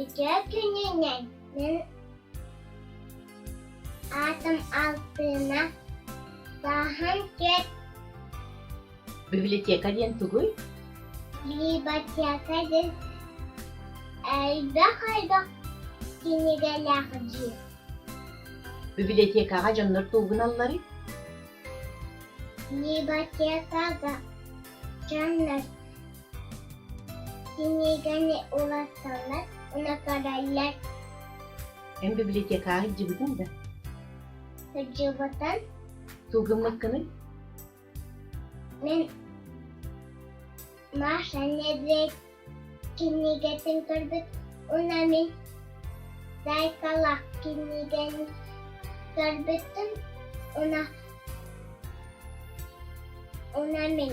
Ити күнүнэн мин аатым Алтына Сааһым түөрт Библиотека диэн тугуй? библиотека диэн элбэх элбэх кинигэлээх дьиэ. Библиотекаҕа дьоннор туугуналларый? Библиотекаҕа дьоннор Кинигэни уларсаллар, унатараллар. Эн библиотекаҕа сылдьыбытыҥ да? Сылдьыбытым. Тылгыммыккыный? Мин Маша Недведь кинигэтин көрбүт уна мин Зайкалак кинигэни көрбүттüm уна уна мин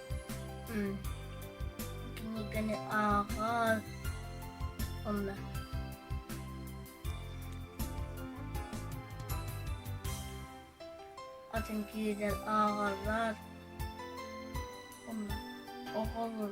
Киниганы ааҕан онно атын киһиден ааҕаллар онно оҕолор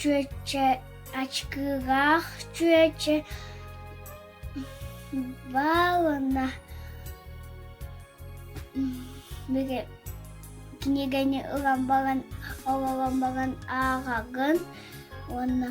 Чүөчэ ачкыгаах чүөчэ Павловна кинигэни ылан баран олорон баран ааҕагын уонна